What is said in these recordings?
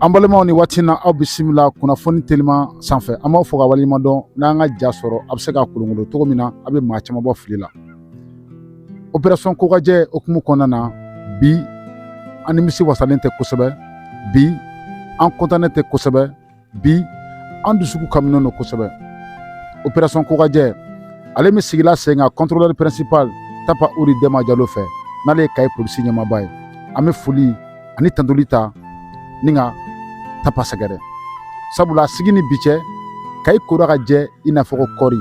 An balimaw ni waati na aw bisimila kunnafoni telima sanfɛ an b'aw fo ka waleɲuman dɔn n'an ka ja sɔrɔ a bɛ se ka kolonkolon cogo min na a bɛ maa caman bɔ fili la opération kokajɛ hukumu kɔnɔna na bi an nimisi wasalen tɛ kosɛbɛ bi an kɔntannen tɛ kosɛbɛ bi an dusukun kaminen don kosɛbɛ opération kokajɛ ale min sigila sen kan contrôleur principal tapa uri dɛnba jalo fɛ n'ale ye kayi polisi ɲɛmaaba ye an bɛ foli ani tantoli ta ni ka tapa sɛgɛrɛ sabula sigi ni bi cɛ kayi kora ka jɛ i n'a fɔ kɔɔri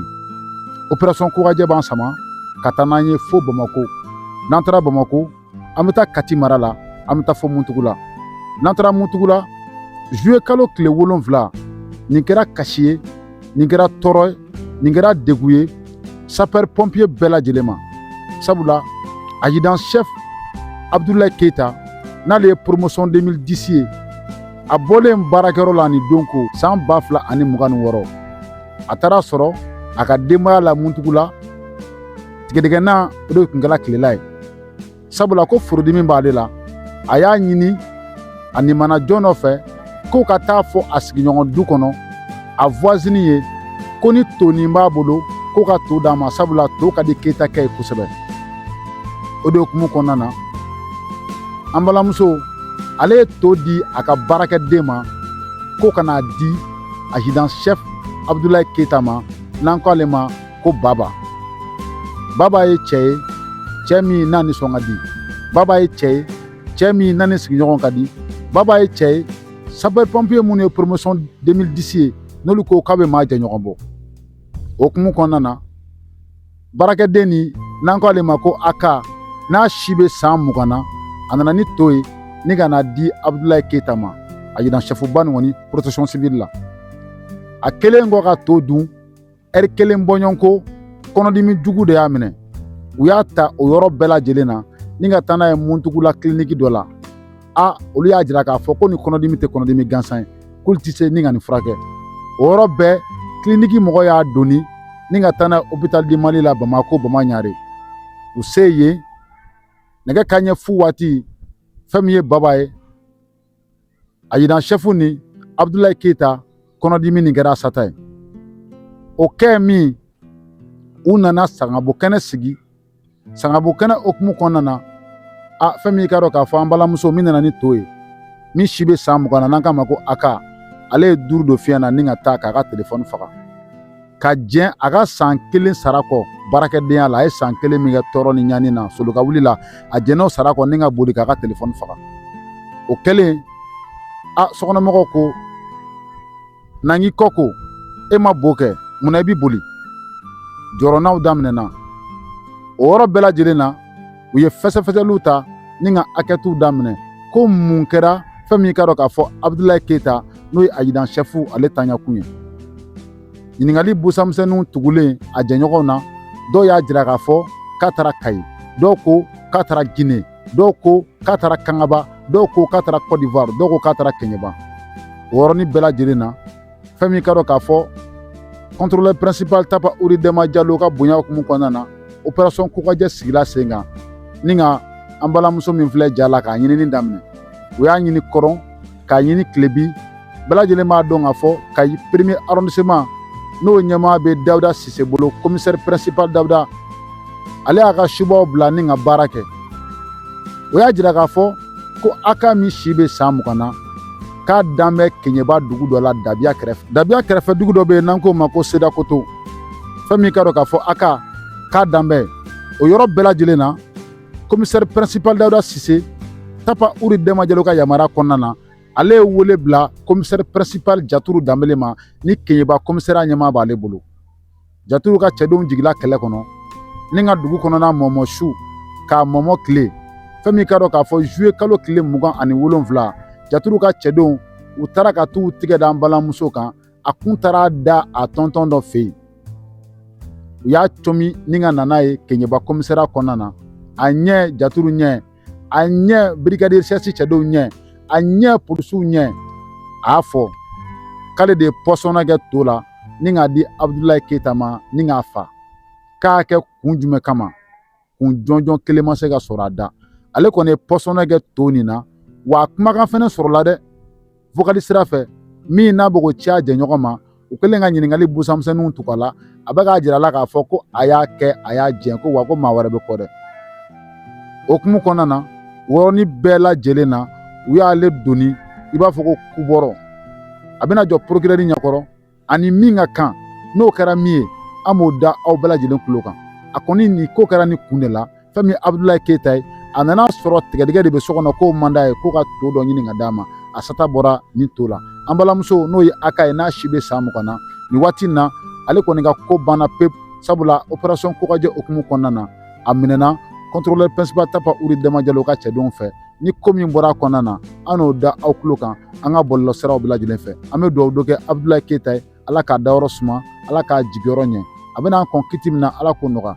opération kokajɛ b'an sama ka taa n'an ye fo bamakɔ n'an taara bamakɔ an bɛ taa kati mara la an bɛ taa fo muntugula n'an taara muntugula zuye kalo tile wolonwula nin kɛra kasi ye nin kɛra tɔɔrɔ ye nin kɛra degun ye sapɛri pɔnpiye bɛɛ lajɛlen ma sabula azidan sɛfu abudulayi keyita n'ale ye poromosɔn 2010 ye a bɔlen baarakɛyɔrɔ la ni don ko san ba fila ani mugan ni wɔɔrɔ a taara sɔrɔ a ka denbaya la muntugula tigɛdɛgɛna o de kun kɛra kilela ye sabula ko furudimi b'ale la a y'a ɲini a nimana jɔn dɔ fɛ ko ka t'a fɔ a sigiɲɔgɔn du kɔnɔ a voisine ye ko ni tonin b'a bolo ko ka to d'a ma sabula to ka di keyitakɛ ye kosɛbɛ o de hukumu kɔnɔna na an balimamuso ale ye to di a ka baarakɛden ma ko ka n'a di azidan chef abudulayi keyita ma n'an ko ale ma ko baba baba ye cɛ ye cɛ min n'a nisɔn ka di baba ye cɛ ye cɛ min n'a ni sigiɲɔgɔn ka di baba ye cɛ ye sapeur pompier minnu ye promotion 2010 ye n'olu ko k'a bɛ maa jɛɲɔgɔn bɔ o hukumu kɔnɔna na baarakɛden ni n'an k'ale ma ko aka n'a si bɛ san mugan na a nana ni to ye ni ka n'a di abudulayi keyita ma azidan sɛfuba nin kɔni protection civile la a kɛlen kɔ ka to dun ɛri kelen bɔɲɔgɔn ko kɔnɔdimi jugu de y'a minɛ u y'a ta o yɔrɔ bɛɛ lajɛlen na ni ka taa n'a ye muntugula kiliniki dɔ la a olu y'a jira k'a fɔ ko nin kɔnɔdimi tɛ kɔnɔdimi gansan ye k'olu tɛ se ni ka nin furakɛ o yɔrɔ bɛɛ kiliniki mɔgɔ y'a doni ni ka taa n'a ye hôpital du mali la bamako bamaɲare u se yen nɛgɛ kanɲɛ fu waati fɛn min ye baba ye azidan sɛfu ni abudulayi keyita kɔnɔdimi nin kɛra a sata ye o kɛ min u nana sangabo kɛnɛ sigi sangabo kɛnɛ hukumu kɔnɔna na a fɛn min i k'a dɔn k'a fɔ an balimamuso min nana ni to ye min si bɛ san mugan na n'an k'a ma ko aka ale ye duuru don fiɲɛ na ni ka taa k'a ka telefɔni faga ka jɛn a ka san kelen sara kɔ baarakɛdenya la a ye san kelen min kɛ tɔɔrɔ ni ɲani na solo ka wuli la a jɛn'o sara kɔ ni ka boli k'a ka telefɔni faga o kɛlen a sokɔnɔmɔgɔw ko n'an k'i kɔ ko e ma bo kɛ munna i bɛ boli jɔrɔnaw daminɛna o yɔrɔ bɛɛ lajɛlen na u ye fɛsɛfɛsɛliw ta ni ka ankɛtiw daminɛ ko mun kɛra fɛn min ka dɔn k'a fɔ abudulayi keyita n'o ye azidan sɛfu ale taɲakun ye ɲininkali busamisɛnninw tugulen a jɛɲɔgɔnw na dɔw y'a jira k'a fɔ k'a taara kayi dɔw ko k'a taara gine dɔw ko k'a taara kangaba dɔw ko k'a taara kɔdiwari dɔw ko k'a taara kɛɲɛba o yɔrɔnin bɛɛ lajɛlen na fɛn min ka dɔn k'a fɔ kɔntorolɛri pɛrɛnsipali tapa uri dɛma jalo ka bonya hukumu kɔnɔna na operasɔn kokajɛ sigila sen kan ni ka an balimamuso min filɛ ja la k'a ɲinini daminɛ u y'a ɲini kɔrɔn k'a ɲini kilebi bɛɛ lajɛlen b'a dɔn k'a fɔ kayi pɛrɛmiye arɔndiseman n'o ɲɛmaa bɛ dawuda sise bolo komisɛri pɛrɛnsipali dawuda ale y'a ka subaw bila ni ka baara kɛ o y'a jira k'a fɔ ko aka min si bɛ san mugan na k'a dan bɛ keɲɛba dugu dɔ la dabiya kɛrɛfɛ dabiya kɛrɛfɛ dugu dɔ bɛ yen n'an k'o ma ko sedakoto fɛn min ka dɔn k'a fɔ aka k'a dan bɛ o yɔrɔ bɛɛ lajɛlen na komisɛri pɛrɛnsipali dawuda sise tapa uri dɛma jalo ka yamaruya kɔnɔna na ale ye wele bila komisɛri pɛrɛnsipali jaturu danbele ma ni keɲɛba komisariya ɲɛmaa b'ale bolo jaturu ka cɛdenw jigila kɛlɛ kɔnɔ ni ka dugu kɔnɔna mɔmɔ su k'a mɔmɔ tile fɛn min ka dɔn k'a fɔ zuye kalo tile mugan ani wolonfila jaturu ka cɛdenw u taara ka t'u tigɛ da an balimamuso kan a kun taara da a tɔntɔn dɔ fɛ yen u y'a cɔmi ni ka na n'a ye keɲɛba komisariya kɔnɔna na a ɲɛ jaturu ɲɛ a ɲɛ birigadi sɛsi cɛdenw ɲɛ a ɲɛ polisiw ɲɛ a y'a fɔ k'ale de ye pɔsɔnna kɛ to la ni k'a di abudulayi keyita ma ni k'a fa k'a kɛ kun jumɛn kama kun jɔnjɔn kelen ma se ka sɔrɔ a da ale kɔni ye pɔsɔnna kɛ to nin na wa kumakan fɛnɛ sɔrɔla dɛ vokali sira fɛ min n'a bɛ k'o ci a jɛɲɔgɔn ma u kɛlen ka ɲininkali busamisɛnninw tugu a la a bɛ k'a jira a la k'a fɔ ko a y'a kɛ a y'a jɛn ko wa ko maa wɛrɛ bɛ kɔ dɛ o hukumu kɔnɔna na o yɔrɔnin bɛɛ lajɛlen na u y'ale doni i b'a fɔ ko kubɔrɔ a bɛna jɔ porokirɛri ɲɛkɔrɔ ani min ka kan n'o kɛra min ye an b'o da aw bɛɛ lajɛlen kulo kan a kɔni nin ko kɛra nin kun de la fɛn min ye abudulayi keyita ye a nan'a sɔrɔ tigɛdigɛ de bɛ so kɔnɔ k'o man d'a ye k'o ka to dɔ ɲini ka d'a ma a sata bɔra nin to la an balimamuso n'o ye aka ye n'a si bɛ san mugan na nin waati in na ale kɔni ka ko banna pewu sabula operasɔn kokajɛ hukumu kɔnɔna na a minɛna kɔntorolɛri pɛrɛnsipali tapa uri dɛma jalo ka cɛdenw fɛ ni ko min bɔra a kɔnɔna na an n'o da aw tulo kan an ka bɔlɔlɔ siraw bɛɛ lajɛlen fɛ an bɛ dugawu dɔ kɛ abudulayi keyita ye ala k'a dayɔrɔ suma ala k'a jigiyɔrɔ ɲɛ a bɛna an kɔn kiti min na ala k'o nɔgɔya